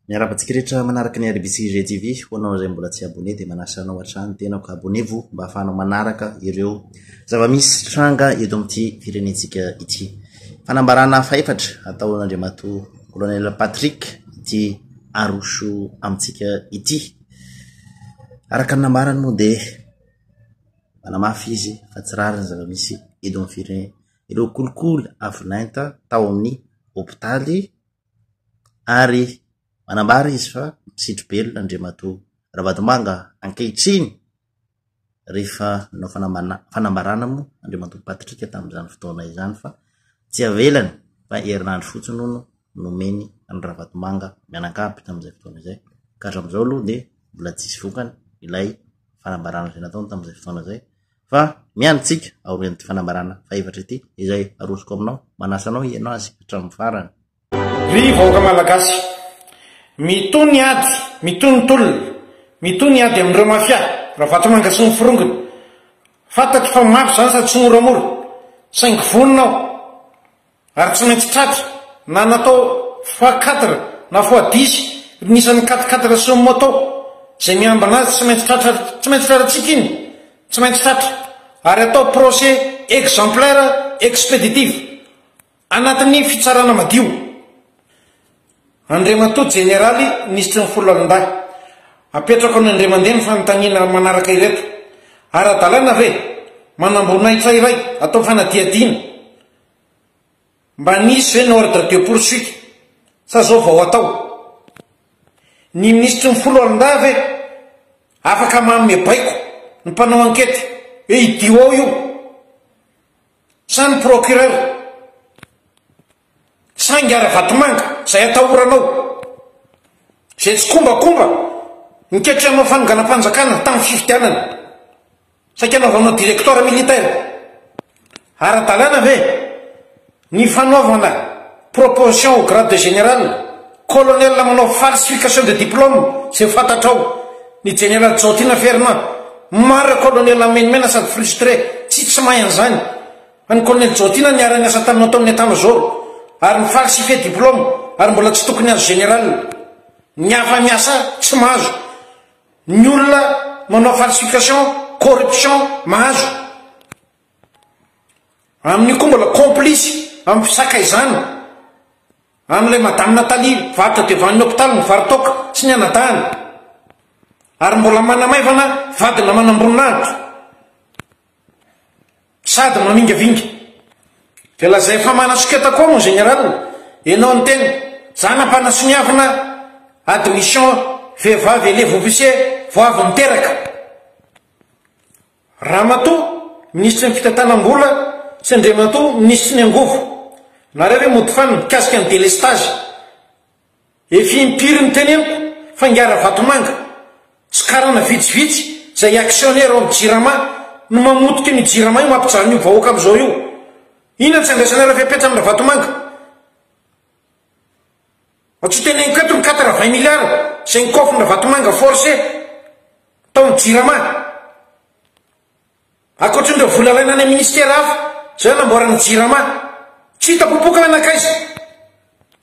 Miarahaba antsika rehetra manaraka ny RBC GTV. Ho anao izay mbola tsy abonné dia manasa anao hatrany tena ka abonnez-vous mba hahafahanao manaraka ireo zava-misy tranga eto amin'ity firenentsika ity. Fanambarana fahefatra ataon'Andriamatoa Colonel Patrick ity aroso amintsika ity. Araka ny nambarany moa dia manamafy izy fa tsy rariny zava-misy eto amin'ny firenena. Ireo kolikoly avolenta tao amin'ny hopitaly ary manambara izy fa misidry belona Andriamatoa Ravatomanga ankehitriny rehefa nanao fanambana- fanambarana moa Andriamatoa Patrick tamin'izany fotoana izany fa tsy avelany fa herinandro fotsiny hono nomeny an'i Ravatomanga mianakavy tamin'izay fotoana izay ka hatramin'izao aloha dia mbola tsisy vokany ilay fanambarana izay nataony tamin'izay fotoana izay. Fa miandry tsika aorian'ity fanambarana fahefatra ity izay arosoko aminao, manasa anao hihaino azy hatramin'ny farany. Ry vahoaka Malagasy, mitohy ny ady, mitohy ny tolona, mitohy ny ady amin'ireo mafia, Ravatomanga sy ny forongony. Fantatro fa mafy izany sady tsy moramora, saingy vonona aho Ary tsy maintsy tratra, na natao fois quatre na fois dix ny isan'ny quatre quatre cent moto izay miambina azy tsy maintsy tratra ary tsy maintsy trarantsika iny, tsy maintsy tratra ary atao procès exemplaire expéditif anatin'ny fitsarana madio. Andriamatoa Jeneraly Minisitry ny Foloalindahy, apetrako any Andriamandeha ny fanontaniana manaraka ireto, Ara-dalàna ve manam-boninahitra iray atao fanadihadiana, Mba nisy ve ny ordre de poursuite sa zao vao atao? Ny minisitry ny foloalindahy ve afaka manome baiko ny mpanao ankety hoe idio ao io? Sa ny procureur? Sa ingahy Ravatomanga zay atahoranao? Zay tsikombakomba niketry hanao fanonganam-panjakana tamin'ny fifidianana? Saika anaovanao directoire militaire ara-dalàna ve ny fanaovana proposition au grade de général, colonel manao falsification de diplôme izay fantatrao, ny jeneraly Jaotina Fernand, marina colonel menomenana sady frustré, tsy tsy mahay an'izany, fa ny colonel Jaotina niara-niasa taminao tao amin'ny état major ary mi-falsifier diplôme ary mbola tsy tokony azo général, ny hafa miasa tsy mahazo, Ny olona manao falsification, corruption mahazo. Amin'io koa mbola complice amin'ny fisakaizana an'ilay Madame Nathalie varotra devan'ny hopitaly ny varitaoka sy ny anadahiny. Ary mbola manamaivana vadina manamboninahitra. Sady mamingavinga. Dia lazay fa manasoketa koa mon général enao ny tena. Za nampanasoniavina admission vehivavy elève officier vao avy niteraka. Ramatoa minisitry ny fitantanam-bola sy Andriamatoa minisitry ny angovo. Nareo ve mody fan mikasika ny délestage. Efa impiry no teneniko fa Ngara Vatomanga sy karana vitsivitsy izay actionnaire ao amin'ny Jirama no mamotika an'io Jirama io mampijaly an'io vahoaka amin'izao io. Inona no tsy andraisanareo fepetra amin'ny Ravatomanga? Mba tsy ho teneniko eto ny quatre vingt milliards izay nokaofin'ny Ravatomanga forcé tao amin'ny Jirama. Ankoatrin'ireo vola alaina any amin'ny ministera hafa izay nanamboarana ny Jirama. Tsy hita popoka hoe nankaiza?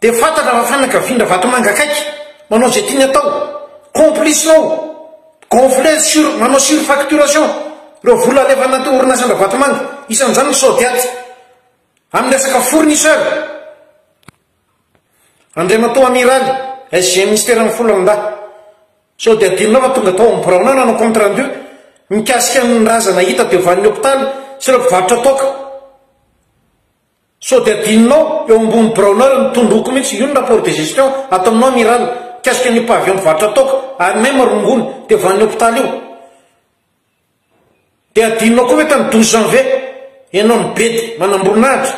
Dia fantatra fa fanakavian-dRavatomanga akaiky, manao izay tiany atao, complice-nao, gonfler sur, manao surfacturation, ireo vola alefa anaty orinasan-dRavatomanga, isan'izany ny Sodiat, amin'ny resaka fournisseur, Andriamatoa Amiraly, SG Minisitera ny Foloalindahy. Sao dia adinonao fa tonga tao amin'ny biraonao nanao compte rendu mikasika ny razana hita teo vanin'ny hopitaly sy ireo mpivarotra toaka. Sao dia adinonao, eo ambony biraonao eo ny tondroko mihitsy, io ny rapport de gestion ataonao amiral, mikasika an'io pavillon mpivarotra toaka any même rongony dia van'ny hopitaly io. Dia adinonao koa ve tany douze janvier, ianao nibedy manamboninahitra,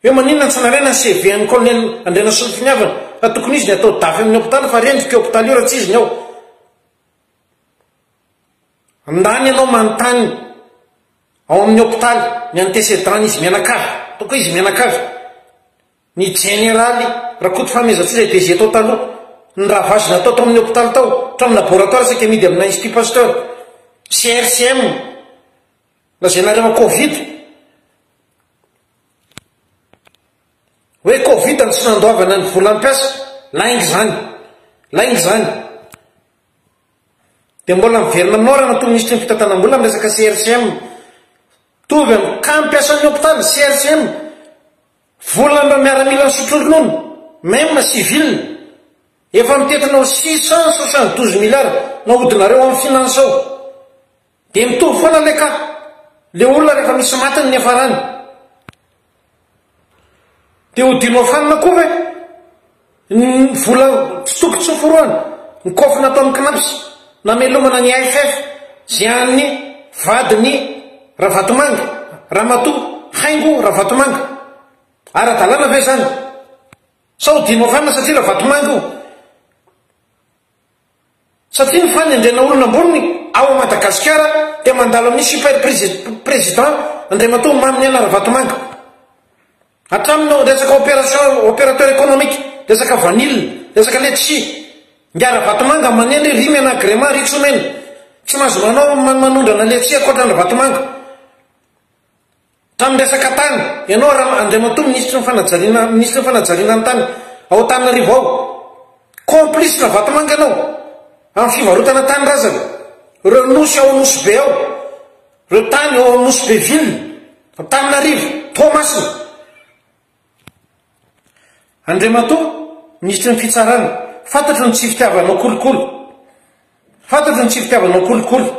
hoe maninona tsy nalaina ny CV an'i colonel Andrianasolofiniavana, fa tokony izy ny atao dafy amin'ny hopitaly fa rendrika io hopitaly io raha tsy izy ny ao. Andany ianao manontany. Ao amin'ny hopitaly, ny antécédent-ny izy mianakavy, ataoko hoe izy mianakavy, ny jeneraly Rakoto Fahamezantsoa izay DG tao taloha, ny ravage natao tao amin'ny hopitaly tao, hatramin'ny laboratoire saika amidy amina Institut Pasteur, CRCM, lazainareo an covid, hoe covid no tsy nandoavana ny volam-piasa, lainga izany, lainga izany. Dia mbola miverina aminao raha natoa minisitry ny fitantanam-bola ny resaka CRCM. Mitovy amin'ny cas mpiasan'ny hopitaly, CRCM, volan'ireo miaramilan'ny sotronono, meme civile, efa mitentina ho six cent soixante douze milliards nahodinareo amin'ny finance ao. Dia mitovy foana le ka. Le olona rehefa misy maty ny niafarany. Dia ho dinoafanina koa ve ny vola fitsopitsoforoana, ny kofy nataon'ny cnaps namelomana ny AFF zay an'ny vadin'i Ravatomanga, Ramatoa Haingo Ravatomanga. Ara-dalàna ve zany? Sa ho dinoafanina satria Ravatomanga io? Satria ny fanendrena olona ambony ao Madagasikara dia mandalo amin'ny super president Andriamatoa Maminiaina Ravatomanga. Hatramin'ny ao resaka opération, opérateur économique, resaka vanille, resaka letchis. Ingahy Ravatomanga manendry ry Mena Agrema, ry Tsomena. Tsy mahazo manao manondrana letchis ankoatran'i Ravatomanga. Trano miresaka tany, ianao Ra Andriamatoa Minisitry ny Fanajariana, Minisitry ny Fanajariana ny Tany ao Antananarivo ao, complice Ravatomanga ianao amin'ny fivarotana tany razana, ireo nosy ao Nosy Be ao, ireo tany ao amin'ny Nosy Be ville, Antananarivo, Toamasina. Andriamatoa Minisitry ny Fitsarana, fantatro ny tsy fitiavanao kolikoly, fantatro ny tsy fitiavanao kolikoly,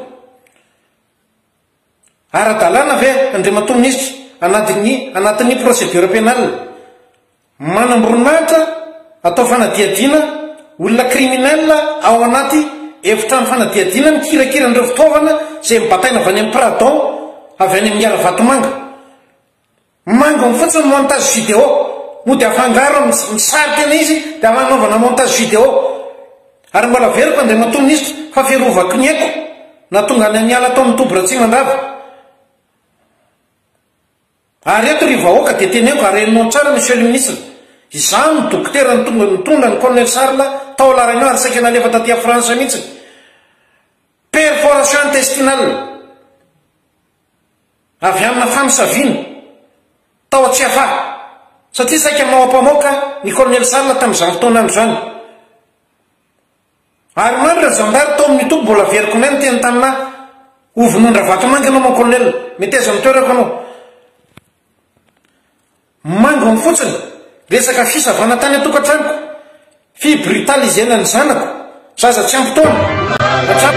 Ara-dalàna ve, Andriamatoa Minisitra, anatin'ny anatin'ny procédure pénale, manam-boninahitra atao fanadihadiana olona criminel ao anaty efitrano fanadihadiana mikirakira an'ireo fitaovana izay mibataina avy any amin'ny Pradao, avy any amin'ny Haravatomanga? Mangony fotsiny montage vidéo mody afangaro amin'ny sary tena izy dia hanaovana montage vidéo ary mbola averiko Andriamatoa Minisitra fa fiarovako ny aiko nahatonga anay niala tao amin'ny toby Ratsimandrava ary eto ry vahoaka dia teneniko ary henonao tsara Monsieur le Ministre izaho no dokotera nitonga nitondra ny Colonel Charles tao La Réunion ary saika nalefa taty a France mihitsy perforation intestinale avy amina famosaviana tao Tsiafahy satria saika maoapamoaka ny kolonely Sala tamin'izany fotoana izany. Ary maro ireo zandary tao amin'ny toby mbola very k'nay niteny tamina ho vonoan-dRavatomanga ianao mon colonel, meteza amin'ny toerako ianao. Mangony fotsiny resaka fisavana tany an-tokantranoko, fibrutaliser-na ny zanako, zaza tsy ampy taona, hatramin'ny.